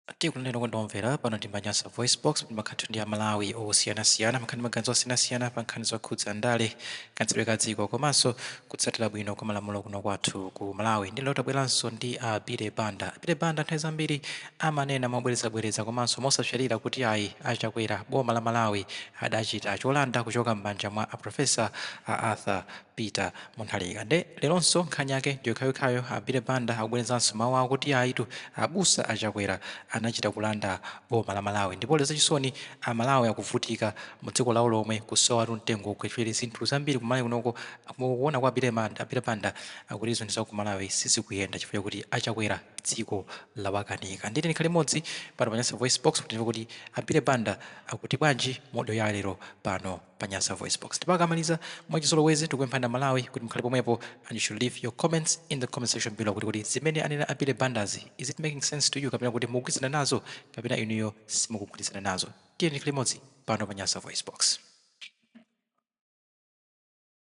Tikunena kwa omvera, pano ndi pa Nyasa VoiceBox, pomwe timakhala ndi a Malawi osiyanasiyana, amakhala ndi maganizo osiyanasiyana pa nkhani zokhudza ndale, kayendetsedwe ka dziko, komanso kutsatidwa bwino kwa malamulo kuno kwathu ku Malawi. Nde lero tabweranso ndi a Billy Banda. A Billy Banda nthawi zambiri amanena mobwerezabwereza komanso mosapsatira kuti ayi, a Chakwera, boma la Malawi adachita cholanda kuchoka m'manja mwa a Professor a Arthur Peter Munthalika nde leronso nkhani yake ndiyokhayokhayo a Billy Banda akubwerezanso mau awo kuti ayitu abusa a Chakwera anachita kulanda boma la Malawi ndipo lero zachisoni a Malawi akuvutika mu dziko lawo lomwe kusowatu mtengo ogwira chifukwa choti zinthu zambiri ku Malawi kuno kukuona kwa Billy Banda akuti zinthu ku Malawi sizikuyenda chifukwa chakuti a Chakwera dziko lawakanika ndiye tikhale limodzi pano pa Nyasa VoiceBox kuti timve kuti a Billy Banda akuti bwanji mu audio ya lero pano. pa Nyasa Voicebox. Ndipo akamaliza mwachizolowezi tikupemphani a Malawi kuti mkhale pomwepo and you should leave your comments in the comment section below kuti kuti zimene anena a Billy Bandazi is it making sense to you kapena kuti mukugwirizana nazo kapena inuyo simukugwirizana nazo. Tiyeni tikhale limodzi pano pa Nyasa Voicebox.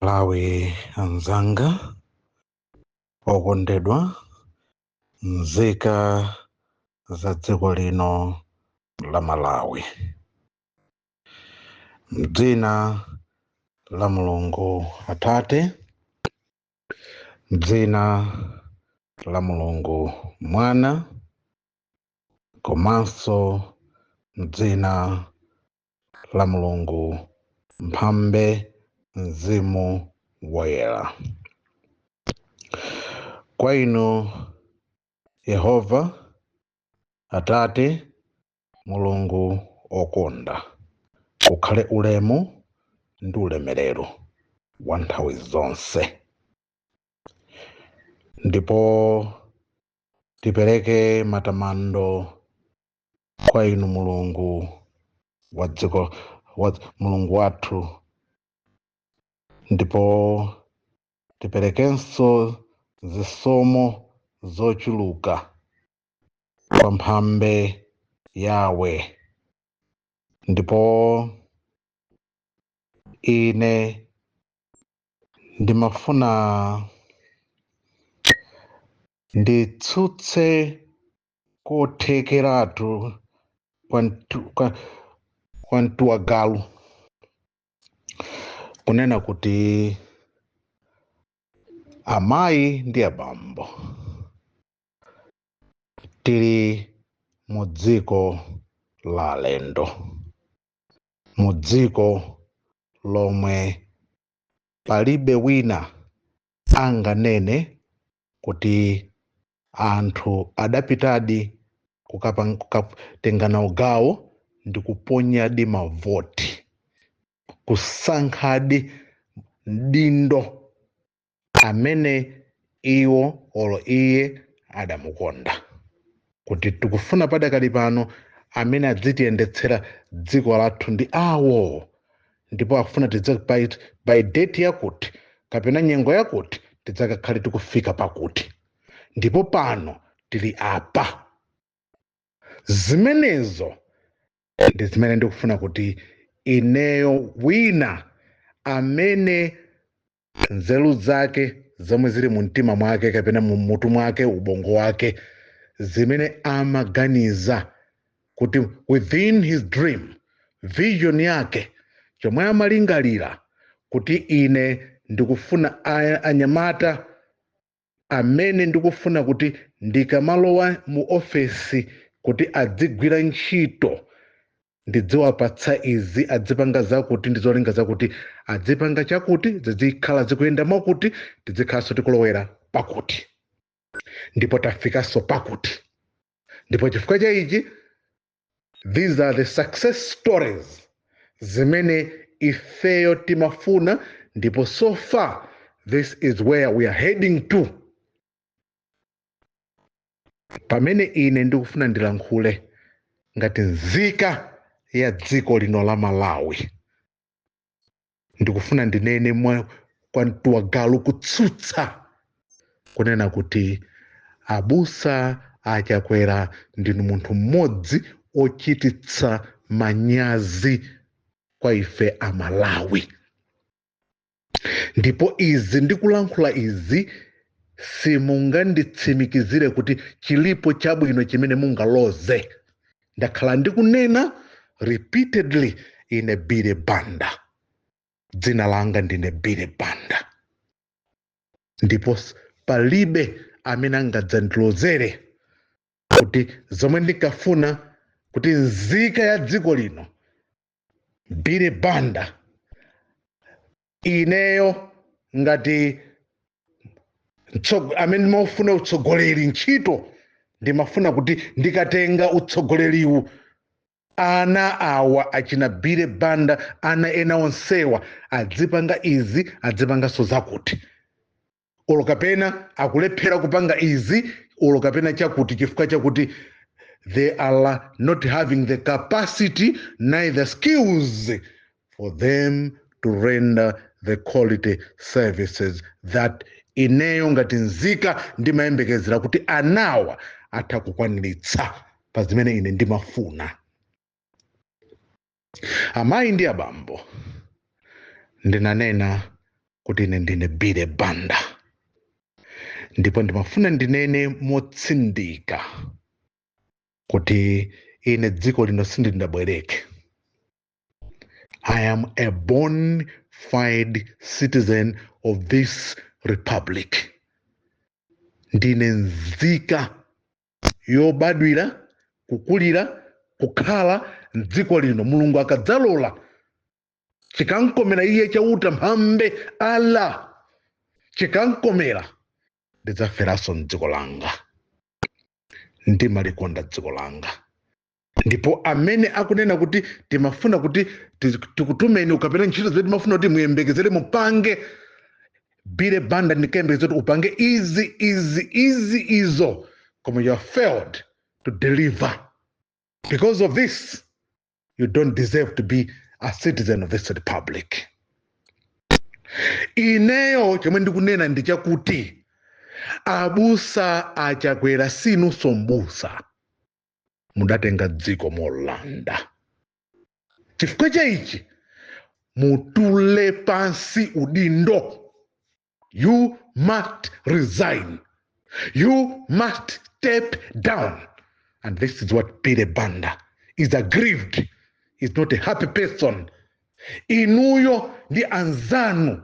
Malawi anzanga okondedwa nzika za dziko lino la Malawi. Mdzina la Mulungu Atate, mdzina la Mulungu Mwana, komanso mdzina la Mulungu Mphambe Mzimu Woyera. Kwa inu Yehova, Atate, Mulungu okonda, kukhale ulemu ndi ulemerero wa nthawi zonse. Ndipo tipereke matamando kwa inu Mulungu wa dziko, Mulungu wathu, ndipo tiperekenso zisomo zochuluka kwa mphambe Yahwe ndipo ine ndimafuna nditsutse kothekeratu kwa mtu wa galu kunena kuti amayi ndi abambo tili mu dziko la alendo mu dziko lomwe palibe wina anganene kuti anthu adapitadi kukatengana ugawo ndi kuponyadi mavoti kusankhadi mdindo amene iwo olo iye adamukonda kuti tikufuna padakali pano amene adzitiyendetsera dziko lathu ndi awo ndipo akufuna tidze by, by date yakuti kapena nyengo yakuti tidzakakhale tikufika pakuti ndipo pano tili apa zimenezo ndi zimene ndikufuna kuti ineyo wina amene nzeru zake zomwe zili mu mtima mwake kapena mu mutu mwake ubongo wake zimene amaganiza kuti within his dream vision yake chomwe amalingalira kuti ine ndikufuna anyamata amene ndikufuna kuti ndikamalowa mu ofesi kuti adzigwira ntchito ndidziwapatsa izi adzipanga zakuti ndi zolinga zakuti adzipanga chakuti zidzikhala zikuyenda mwakuti tidzikhalanso tikulowera pakuti ndipo tafikanso pakuti ndipo chifukwa cha ichi these are the success stories zimene ifeyo timafuna ndipo so far this is where we are heading to pamene ine ndikufuna ndilankhule ngati nzika ya dziko lino la malawi ndikufuna ndinene mwa kwa mtu wa galu kutsutsa kunena kuti abusa achakwera ndinu munthu mmodzi ochititsa manyazi kwa ife amalawi ndipo izi ndikulankhula izi simunganditsimikizire kuti chilipo chabwino chimene mungaloze ndakhala ndikunena repeatedly ine Billy Banda dzina langa ndine Billy Banda ndipo palibe amene angadzandilozere kuti zomwe ndikafuna kuti nzika ya dziko lino Billy Banda ineyo ngati amene ndimaufuna utsogoleri ntchito ndimafuna kuti ndikatenga utsogoleriwu ana awa achina Billy Banda ana ena onsewa adzipanga izi adzipanganso zakuti olo kapena akulephera kupanga izi olo kapena chakuti chifukwa chakuti they are not having the capacity neither skills for them to render the quality services that ineyo ngati nzika ndimayembekezera kuti anawa atha kukwaniritsa pa zimene ine ndimafuna amayi ndi abambo ndinanena kuti ine ndine billy banda ndipo ndimafuna ndinene motsindika kuti ine dziko lino sindindabwereke i am a bona fide citizen of this republic ndine nzika yobadwira kukulira kukhala mdziko lino mulungu akadzalola chikankomera iye chauta mphambe allah chikankomera ndidzaferanso mdziko langa ndimalikonda dziko langa ndipo amene akunena kuti timafuna kuti tiz- tikutumeni ukapena ntchito zimene timafuna kuti muyembekezere mupange billy banda ndinkayembekeza kuti upange izi izi izi izo koma you have failed to deliver because of this you don't deserve to be a citizen of this republic ineyo chomwe ndikunena ndi chakuti abusa a chakwera sinunso mbusa mudatenga dziko molanda chifukwa cha ichi mutule pansi udindo you must resign you must step down and this is what billy banda is aggrieved is not a happy person inuyo ndi anzanu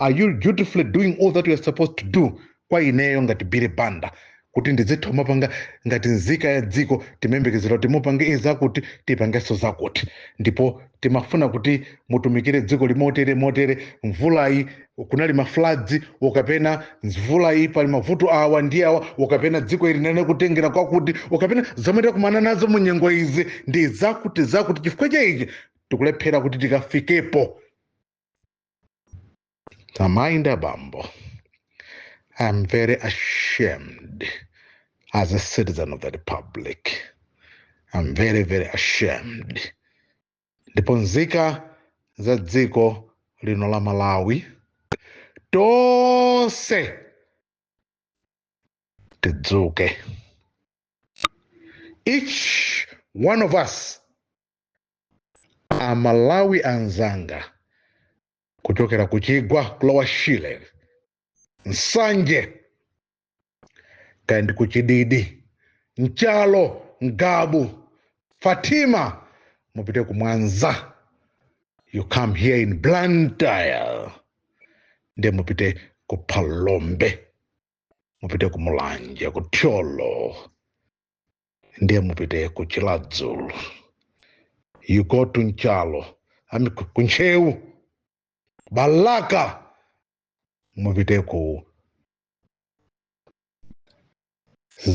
are you dutifully doing all that you are supposed to do kwa ineyo ngati billy banda kuti ndizitha kumapanga ngati nzika ya dziko timayembekezera kuti mupange izakuti tipangenso zakuti ndipo timafuna kuti mutumikire dziko ili motere motere mvulayi kunali mafladzi ukapena mvulayi pali mavuto awa ndi awa ukapena dziko ili linene kutengera kwakuti ukapena zomwe takumana nazo mu nyengo izi ndi zakuti zakuti chifukwa cha ichi tikulephera kuti tikafikepo Mind Abambo, I am very ashamed as a citizen of the republic. I'm very, very ashamed. Ndipo nzika za dziko lino la Malawi tonse tidzuke. Each one of us amalawi anzanga kuchokera ku chigwa ku lower shire nsanje kaya ndi ku chididi nchalo ngabu fatima mupite ku mwanza you come here in blantyre nde mupite ku phalombe mupite ku mulanje ku thyolo ndiye mupite ku chiradzulu you go to nchalo ami ku ku ntcheu balaka mupite ku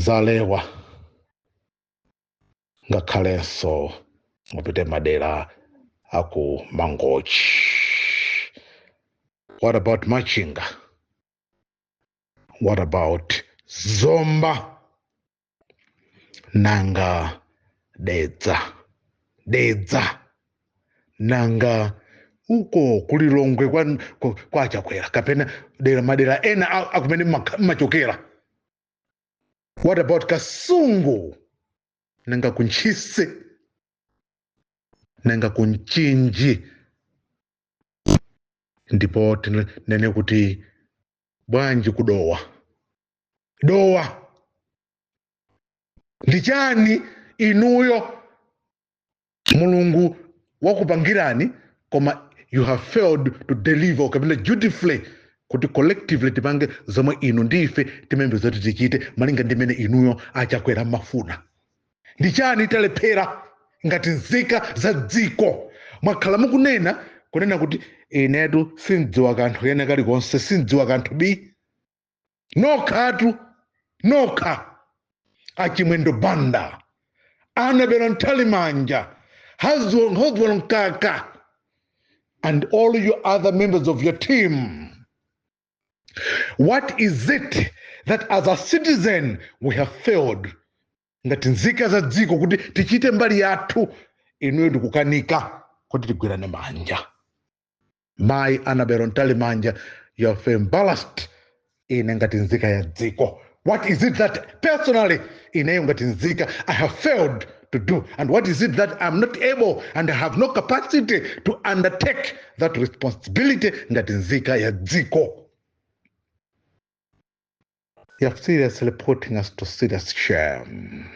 zalewa ngakhalenso mupite madera aku mangochi what about machinga what about zomba nanga dedza dedza nanga uko kulilongwe kwa, kwa, kwa chakwera kapena dera madera ena a- akumene mma- mmachokera what about kasungu nanga kuntchisi nanga kumchinji ndipo tinene kuti bwanji kudowa dowa ndi chani inuyo mulungu wakupangirani koma you have failed to deliver kapena dutifully kuti collectively tipange zomwe inu ndi ife timembe zoti tichite malinga ndi mmene inuyo achakwera mmafuna ndi chani talephera ngati nzika za dziko mwakhala mukunena kunena kuti inetu sindziwa kanthu kena kalikonse sindziwa kanthu bi nokhatu nokha achimwendo banda annabel mtalimanja eisenhower mkaka and all your other members of your team what is it that as a citizen we have failed ngati nzika za dziko kuti tichite mbali yathu inuyo ndikukanika kuti tigwirane manja mayi annabel mtalimanja you have embarrassed ine ngati nzika ya dziko what is it that personally ineyo ngati nzika i have failed to do and what is it that i'm not able and i have no capacity to undertake that responsibility ngati nzika ya dziko They are seriously putting us to serious shame.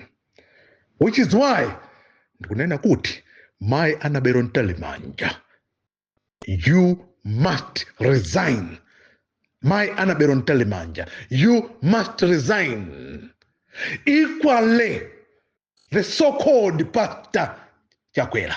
Which is why ndikunena kuti Mai Anabero Ntalimanja, you must resign. Mai Anabero Ntalimanja, you must resign. Equally, the so-called pastor Chakwera.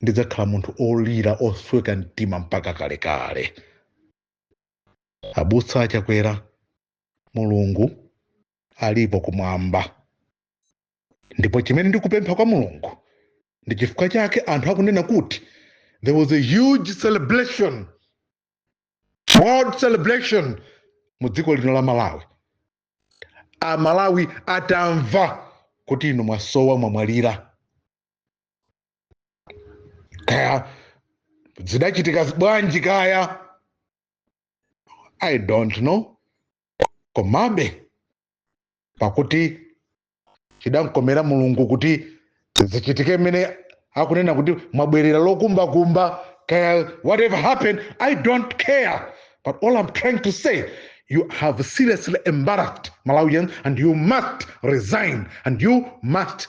ndidzakhala munthu olira osweka mtima mpaka kalekale abusa achakwera mulungu alipo kumwamba ndipo chimene ndikupempha kwa mulungu ndi chifukwa chake anthu akunena kuti there was a huge celebration world celebration mu dziko lino la malawi amalawi atamva kuti inu mwasowa mwamwalira kaya zidachitika bwanji kaya i don't know komabe pakuti chidamkomera mulungu kuti zichitike mmene akunena kuti mwabwerera lokumbakumba kaya whatever happened i don't care but all i'm trying to say you have seriously embarrassed malawians and you must resign and you must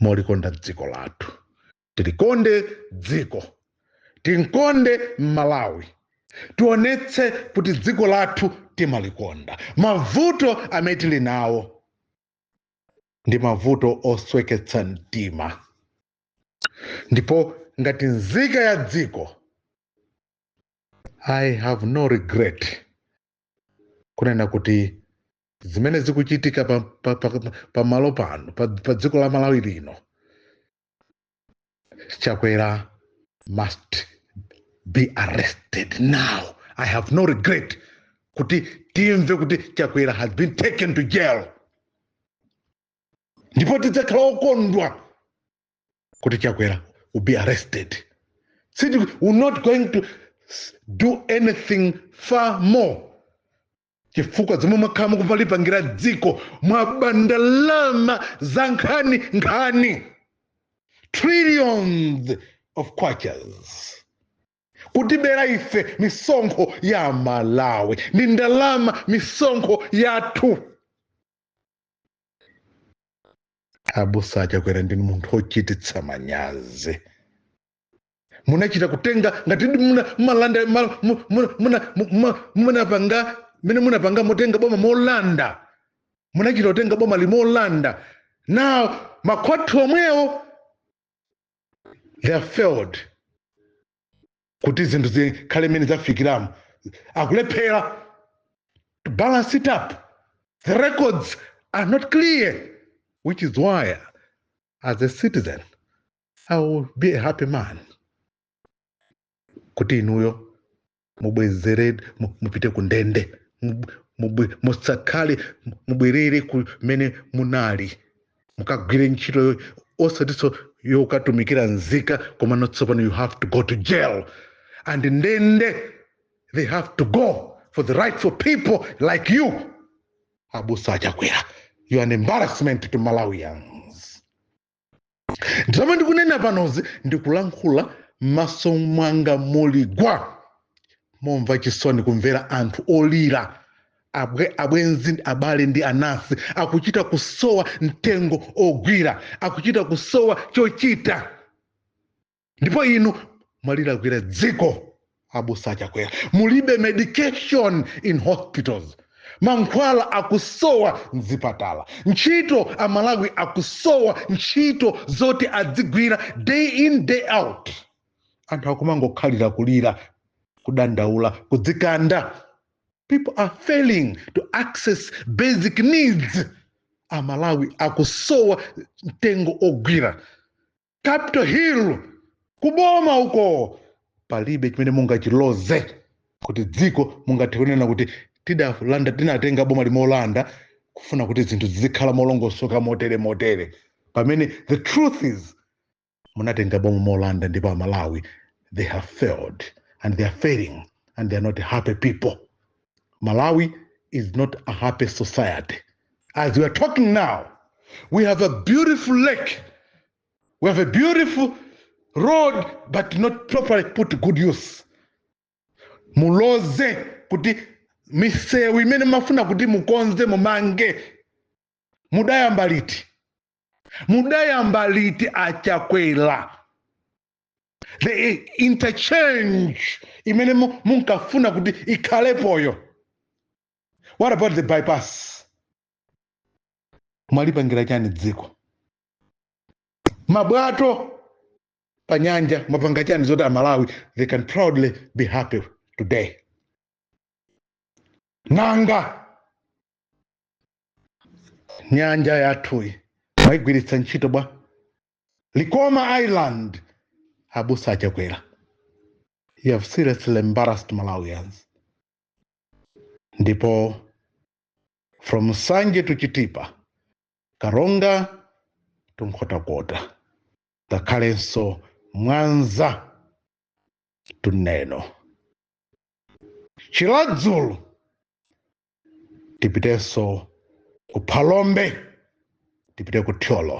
molikonda dziko lathu tilikonde dziko tinkonde malawi tionetse kuti dziko lathu timalikonda mavuto amene tili nawo ndi mavuto osweketsa mtima ndipo ngati nzika ya dziko i have no regret kunena kuti zimene zikuchitika pa, pa, pa, pa malo pano pa, pa dziko la malawi lino chakwera must be arrested now i have no regret kuti timve kuti chakwera has been taken to jail ndipo tidzakhala okondwa kuti chakwera will be arrested See, we're not going to s- do anything far more chifukwa zomwe mwakhala mukupa- lipangira dziko mwaba ndalama zankhaninkhani trillions of kwachas kutibera ife misonkho ya malawi ndi ndalama misonkho yathu abusa a chakwera ndinu munthu ochititsa manyazi munachita kutenga ngati ndi muna- mumalanda ma- mu- mu- muna- mu- mu- munapanga mmene munapanga motenga boma molanda munachita kutenga boma ili molanda now makhoti omwewo they have failed kuti zinthu zikhale mmene zafikiramo akulephera to balance it up the records are not clear which is why as a citizen i will be a happy man kuti inuyo mubwezere mu- mupite ku ndende Mub- mubwe- musakhale mu- mubwerere kumene munali mukagwire ntchito yo- osatinso yokatumikira nzika komano tsopano you have to go to jail and ndende they have to go for the rightful people like you abusa a chakwera you are an embarrassment to malawians zomwe ndikunena panozi ndikulankhula m'maso mwanga muli gwa momva chisoni kumvera anthu olira abwenzi abale ndi anansi akuchita kusowa mtengo ogwira akuchita kusowa chochita ndipo inu mwalilakwira dziko abusa achakwera mulibe medication in hospitals mankhwala akusowa mzipatala ntchito amalawi akusowa ntchito zoti adzigwira day in day out anthu akumangokhalira kulira kudandaula kudzikanda people are failing to access basic needs amalawi akusowa mtengo ogwira capital hill kuboma uko palibe chimene mungachiloze kuti dziko mungathe kunena kuti tidalanda tinatenga bomali molanda kufuna kuti zinthu zizikhala molongosoka motere motere pamene the truth is munatenga boma molanda ndipo amalawi they have failed and they are failing and they are not happy people malawi is not a happy society as we are talking now we have a beautiful lake we have a beautiful road but not properly put to good use muloze kuti misewu imene mafuna kuti mukonze mumange mudayamba liti mudayamba liti achakwera the interchange imene munkafuna kuti ikhalepoyo what about the bypass mwalipangira chani dziko mabwato pa nyanja mwapanga chani zoti amalawi they can proudly be happy today nanga nyanja yathuyi mwayigwiritsa ntchito bwa Likoma Island, Abusa Achakwera. You have seriously embarrassed Malawians. Ndipo from Nsanje to Chitipa, Karonga to Nkhotakota, ngakhalenso Mwanza to Neno. Chiradzulu tipitenso ku phalombe tipite ku thyolo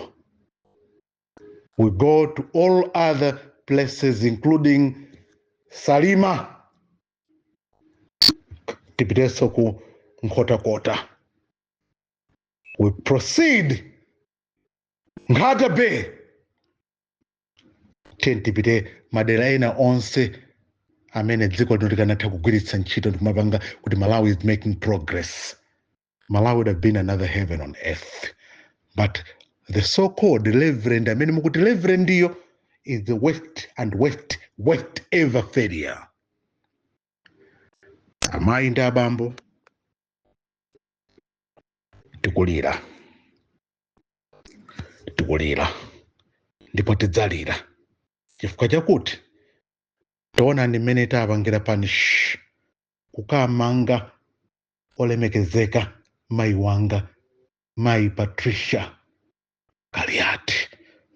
we go to all other places including salima tipitenso ku nkhotakota we proceed nkhata bay tiye tipite madera ena onse amene dziko lino likanatha kugwiritsa ntchito ndikumapanga kuti malawi is making progress malawi would have been another heaven on earth but the so called reverend amene mukuti reverend-yo is the worst and worst worst ever failure amayi ndi abambo tikulira tikulira ndipo tidzalira chifukwa chakuti taonani mmene tapangira punish kukumanga olemekezeka mayi wanga mayi patricia kaliati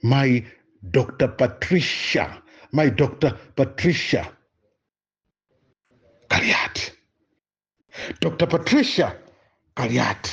mayi dr patricia mayi dr patricia kaliati dr patricia kaliati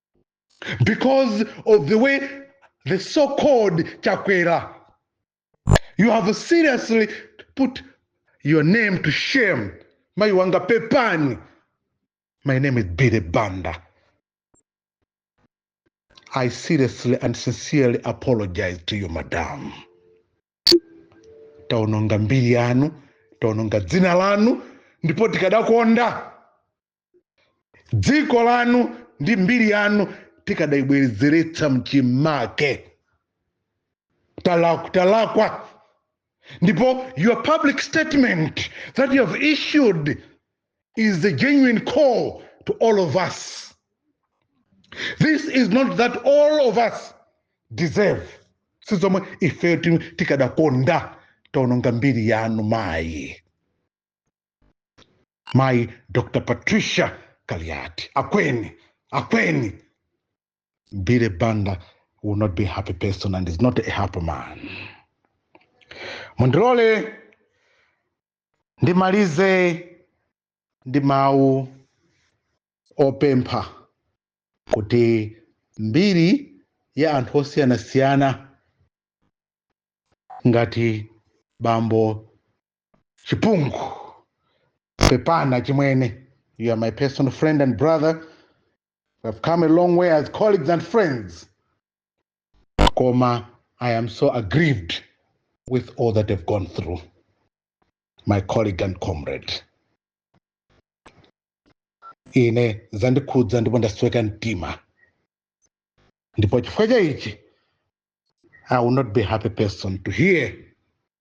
because of the way the so-called chakwera you have seriously put your name to shame mayi wanga pepani my name is billy banda i seriously and sincerely apologize to you madam taononga mbiri yanu taononga dzina lanu ndipo tikadakonda dziko lanu ndi mbiri yanu tikadayibwezeretsa mchimake talakwa ndipo your public statement that you have issued is the genuine call to all of us this is not that all of us deserve sizomwe ifeyo tikadakonda taononga mbiri yanu mayi mayi dr patricia kaliati akweni akweni billy banda will not be a happy person and is not a happy man mundilole ndimalize ndi mawu opempha kuti mbiri ya anthu osiyanasiyana ngati bambo chipungu pepana chimwene you are my personal friend and brother we have come a long way as colleagues and friends koma i am so aggrieved with all that i've gone through my colleague and comrade ine zandikhudza ndipo ndasweka mtima ndipo chifukwa cha ichi i will not be a happy person to hear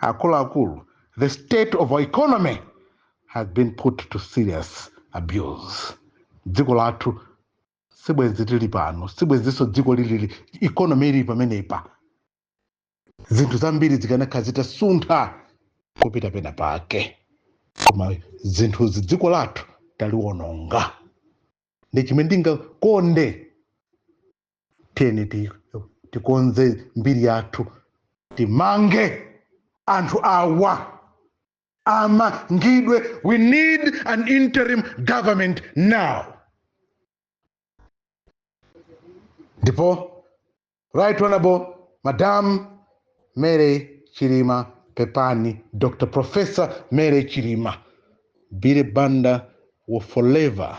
akuluakulu the state of our economy has been put to serious abuse dziko lathu sibwenzi tili pano sibwenzinso dziko lili economy ili pamenepa zinthu zambiri zikanakhala zitasuntha kupita pena pake koma zinthuzi dziko lathu taliwononga ndi chimene ndingakonde tiyeni ti- tikonze mbiri yathu timange anthu awa amangidwe we need an interim government now ndipo right honorable madam mary chilima pepani dr professor mary chilima billy banda will forever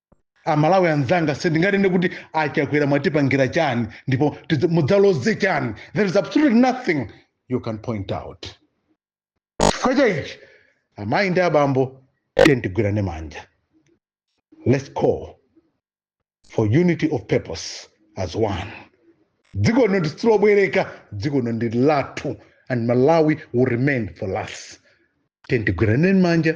amalawi anzanga sindinganene kuti achakwera mwatipangira chani ndipo tidzi- mudzaloze chani there is absolutely nothing you can point out chifukwa cha ichi amayi ndi abambo tiyeni tigwirane manja let's call for unity of purpose as one dziko lino silobwereka dziko lino ndi lathu and malawi will remain for us tiyeni tigwirane manja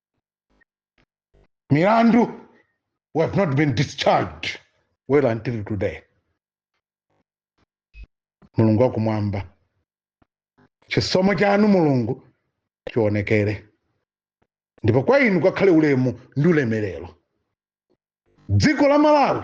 milandu we have not been discharged well until today mulungu wakumwamba chisomo chanu mulungu chionekere ndipo kwa inu kwakhale ulemu ndi ulemerero dziko la malawi